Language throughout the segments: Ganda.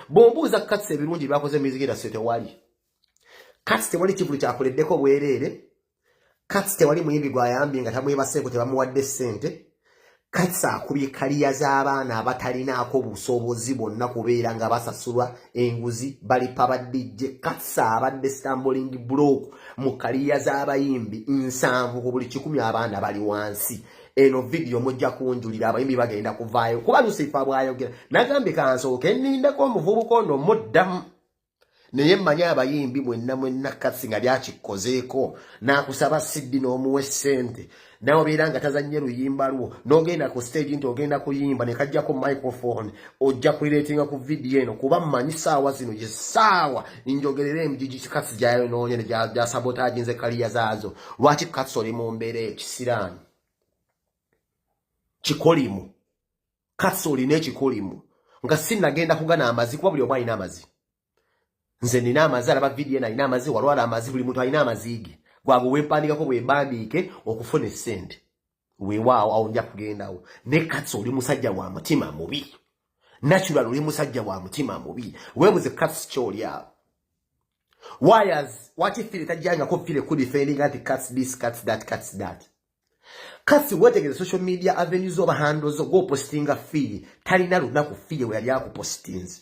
bwombuuza katsi ebirungi byakoze music industry tewali katsi tewali kivulu kyakuleddeko bwereere katsi tewali muyimbi gwayambye nga tamwebaseeko tebamuwadde ssente katsi akubye kaliya z'abaana abatalinaako busobozi bwonna kubeera nga basasulwa enguzi balipa badijje katsi abadde stamboling block mu kaliya z'abayimbi nsanvu ku buli kikumi abaana bali wansi eno video mujja kunjulira abayimbi bagenda kuvaayo kuba lusifa bwayogera nagambye kansooke nindeko omuvubuka ono muddamu naye mmanyi abayimbi mwenna mwenna kasi nga lyakikozeeko nakusaba siddi n'omuwa essente nawe obeera nga tazannye luyimba lwo n'ogenda ku stage nti ogenda kuyimba ne kajjako microphone ojja kulireetinga ku vidiyo eno kuba mmanyi saawa zino ye saawa njogerera emijiji kikatsi gyayonoonye ne gyasabotaaginze kaliya zaazo lwaki katsi oli mu mbeera ekisiraani kikolimu katsi olina ekikolimu nga sinagenda kugana amazi kuba buli omu alina amazi nze nina amazi alaba vidiyo eno alina amazi walwala amazi buli muntu alina amazi ge gwago wempandiikako bwembandiike okufuna essente weewaawo awo nja kugendawo ne katsi oli musajja wa mutima mubi natural oli musajja wa mutima mubi weebuze katsi kyoli awo wires waki fire tajjangako fire ku defending anti cats this cats that cats that katsi wetegeze social media avenues oba handles go postinga fire talina lunaku fire weyali akupostinze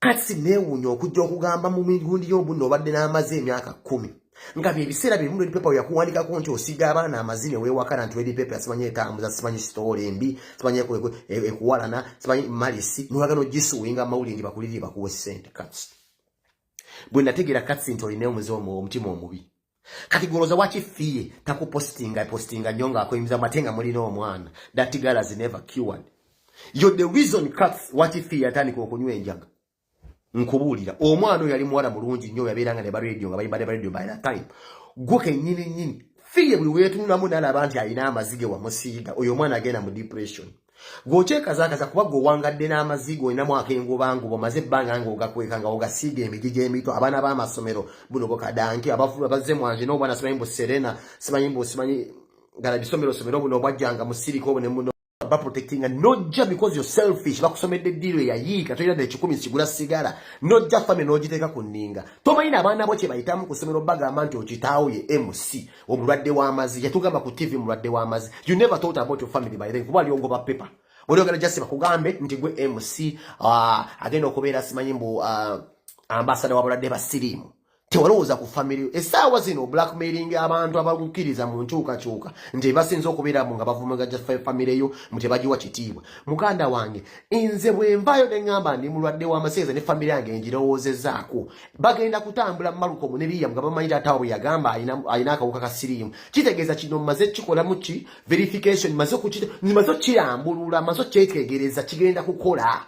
kati neewuunya okujja okugamba mu migundi y'obunna obadde n'amaze emyaka kkumi nga byebiseera byebimu ledi pepa yakuwandikako nti osiga abaana amazi newewakana nti ledi pepa simanyi etambuza simanyi sitoola embi simanyi ekuwalana simanyi malisi newagana ogisuwinga amawulire nti bakulirire bakuwe sente kati bwe nategeera katsi nti olina omuze omutima omubi kati goloza waki fiye takupostinga postinga nyo nga akoyimiza mate nga mulina omwana that girl has never cured yo the reason cats waki fiye atandika okunywa enjaga nkubuulira omwana oyo yali muwala mulungi nyo yabeera nga ne ba radio nga bayimba ne ba radio by that time gwe kenyini nyini fiye buli weetunulamu nalaba nti alina amaziga wamusiiga oyo omwana agenda mu depression gwokyekazakaza kuba gwe owangadde n'amaziga olinamu akengubangu bwamaze ebbanga nga ogakweka nga ogasiiga emigi gy'emito abaana b'amasomero buno bukadanki abafulula bazze mwanje n'obwana simanyi mbu serena simanyi mbu simanyi gala bisomero somero buno obwajjanga mu sirika obu nemuno baprotectinga nojja because you're selfish bakusomedde eddiiro eyayiika tolina nekikumi sigula sigala nojja fami n'ogiteeka ku nninga tomanyina abaana bo kye bayitamu ku somero bagamba nti okitaawo ye mc omulwadde w'amazi yatugamba ku tv mulwadde w'amazi you never thought about your family by then kuba ali ogoba paper oli ogala jasi bakugambe nti gwe mc uh, agenda okubeera simanyi mbu uh, ambasada w'abalwadde ba siriimu tewalowooza ku family esaawa zino blackmailing abantu abagukiriza mu nkyukakyuka nti basinza okubeeramu nga bavumaga family yo mu tebagiwa kitiibwa muganda wange nze bwenvayo neŋamba ndi mulwadde w'amaseeza ne family yange ngirowoozezaako bagenda kutambula malukomu ne biriyamu nga bamanyi taata wabwe yagamba alina akawuka ka siriimu kitegeeza kino mmaze kukikolamu ki verification maze maze okukirambulula maze okukyetegereza kigenda kukola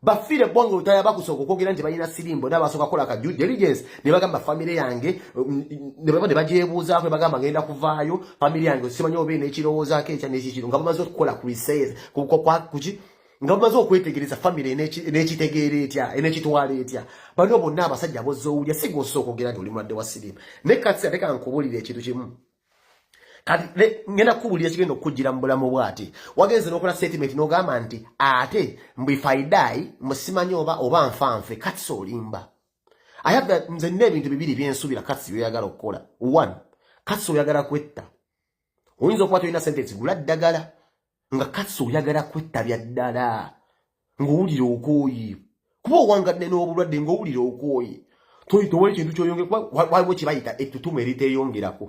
bafiire bonga olutaya bakusooka okwogera nti balina siriimu bona basooka kukola ka due diligence ne bagamba famire yange um, ne baba ne bagyebuuzaako ne bagamba ngenda kuvaayo famire yange simanyi oba ena ekirowoozaako ekya nekikiro nga bamaze okukola ku research kuki nga bumaze okwetegereza famire n'ekitegeera etya enekitwala etya baliwo bonna abasajja abozza owulya si gwossa okwogera nti oli mulwadde wa siriimu naye kati ate kankubulira ekintu kimu kati ngenda kukubulira ekigenda okukujjira mu bulamu bw ati wagenze n'okola statement n'ogamba nti ate mbifaidayi musimanyi oba oba nfanfe kati si olimba ayagala nze nina ebintu bibiri byensuubira kati byoyagala okukola one kati si oyagala kwetta oyinza okuba tolina sente ezigula ddagala nga kasi oyagala kwettabya ddala ng'owulira okooye kuba owangadde n'obulwadde ng'owulira okooye towali kintu kyoyongera kuba waliwo kibayita ettutumu eriteeyongerako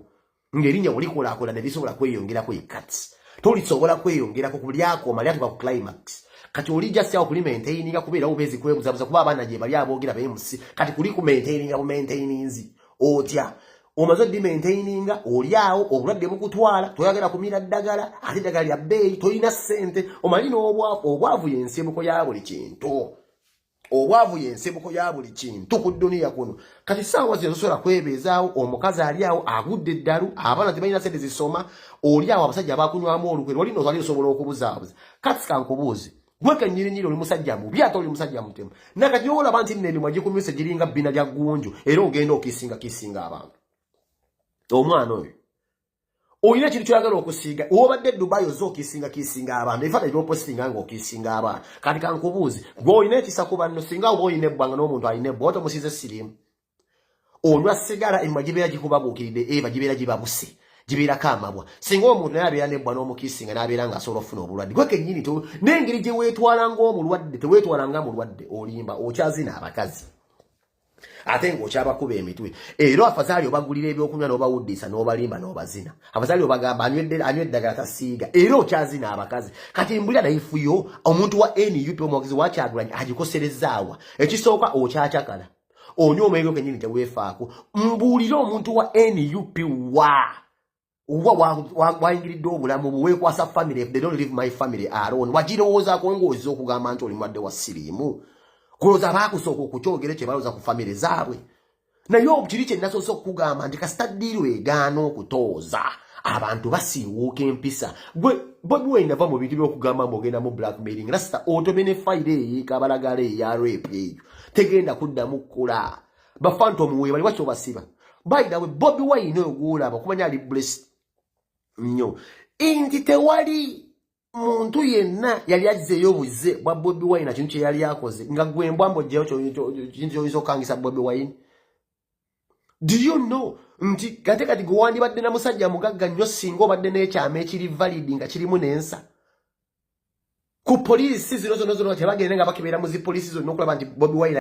ng'erinnya bulikolaakola ne lisobola kweyongerako ye kati tolisobola kweyongerako ku lyakoma lyatuka ku climax kati oli just awo kuli maintaininga kubeera ubeezi kwebuzabuza kuba abaana gye bali aboogera beemusi kati kuli ku maintaininga bu maintaininzi otya omaze odimaintaininga oli awo obulwadde bukutwala toyagala kumira ddagala ate ddagala lya bbeeyi tolina ssente omali n'obwavu obwavu yensibuko ya buli kintu obwavu yensibuko ya buli kintu ku dduniya kuno kati saawa zino tosobola kwebeezaawo omukazi ali awo agudde eddalu abaana tebalina sente zisoma oli awo abasajja bakunywamu olukwe lwali nozali osobola okubuzaabuza kati kankubuuzi Gwe kenyirinyiri oli musajja mubi ate oli musajja mutemu. Nakati olaba nti n'emimwa gikumyuse giringa bbina lya ggunju era ogenda okisinga kisinga abantu. Omwana oyo. Oyina ekintu kyoyagala okusiiga obadde Dubai oze okisinga kisinga abantu ebifaananyi byopostinga nga okisinga abantu kati kankubuuzi gwe olina ekisa ku banno singa oba olina ebbwa nga n'omuntu alina ebbwa oba tomusiize siriimu. onywa sigala emwa gibeera gikubabuukiridde eba eh, gibeera gibabuse gibeerako amabwa singa omuntu naye abeera nebbwa n'omukiisi nga n'abeera nga asobola okufuna obulwadde gwe kennyini n'engeri gye weetwala ng'omulwadde teweetwala nga mulwadde olimba okyazina abakazi ate ng'okyabakuba emitwe era afazaali obagulira ebyokunywa n'obawuddiisa n'obalimba n'obazina afazaali obagamba anywa eddagala tasiiga era okyazina abakazi kati mbulira nayifuyo omuntu wa nup omwogezi wakyagulanyi agikoserezzaawa ekisooka okyacakala onyo omwenge kenyini tewefaako mbuulire omuntu wa nup wa oba wayingiridde obulamu bwe weekwasa family if they don't leave my family alone wagirowoozaako ng'oza okugamba nti oli mwadde wa siriimu kulowooza baakusooka okukyogere kye balowooza ku famire zaabwe naye okiri kye nasoose okukugamba nti kasita ddiiru egaana okutooza abantu basiiwuuka empisa gwe bobi wine nava mu bintu by'okugamba mbu ogenda mu blackmailing rasita otomene fayiro eyo ekabalagala eya reepu eyo tegenda kuddamu kukula bafanta omuweeyo bali wakyo basiba bayidawe bobi wayina oyo gwolaba okumanya ali blessed nnyo nti tewali muntu yenna yali azzeeyo obuze bwa bobi wayina kintu kyeyali akoze nga gwembwambojjayo kintu kyoyinza okukangisa bobi wayini do you know nti kate kati gwe wandibadde na musajja mugagga nnyo singa obadde n'ekyama ekiri valid nga kirimu n'ensa ku poliisi zino zona zona tebagende nga bakebera mu zi poliisi zonna okulaba nti bobi wire